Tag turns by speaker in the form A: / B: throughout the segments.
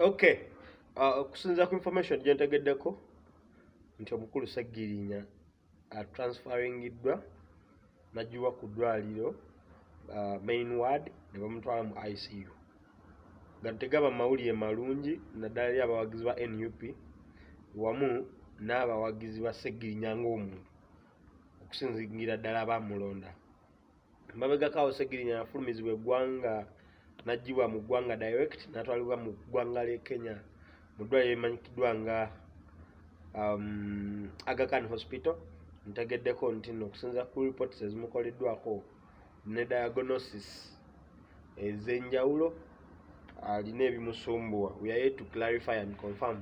A: okay uh, okusinza ku information gyentegeddeko nti omukulu seggirinya atransferingiddwa uh, nagiwa ku ddwaliro uh, main ward ne bamutwala mu icu nga tegaba mawulire malungi naddala eri abawagizi ba nup wamu n'abawagizi ba seggirinya ng'omuntu okusinzingira ddala bamulonda mabegakaawo segirinya yafulumizibwa eggwanga najjibwa mu ggwanga direct natwalibwa mu ggwanga lye kenya mu ddwaliro emanyikiddwa nga um, agakan hospital ntegeddeko nti no okusinza ku reports ezimukoleddwako ne diagnosis ezenjawulo alina ebimusumbuwa we are to clarify and confirm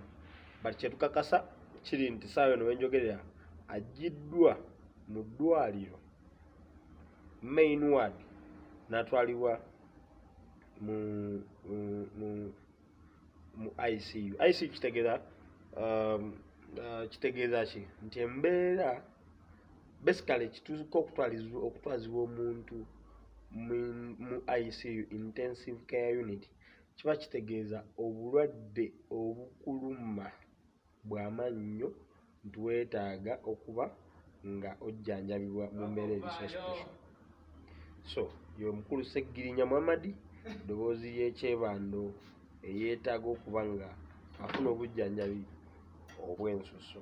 A: but kyetukakasa kiri nti saawa eno wenjogerera ajjiddwa mu ddwaliro main ward natwalibwa mu mu mu icu icu kitegeeza um, uh, kitegeeza ki nti embeera basically kituuka okutwalizibwa okutwazibwa omuntu mu icu intensive care unit kiba kitegeeza obulwadde obukuluma bwa maanyi nnyo nti weetaaga okuba nga ojjanjabibwa mu mbeera eri so special. So, ye omukulu Sseggirinya Muhammad, ddoboozi ly'e Kyebando eyeetaaga okuba nga afuna obujjanjabi obw'ensusso.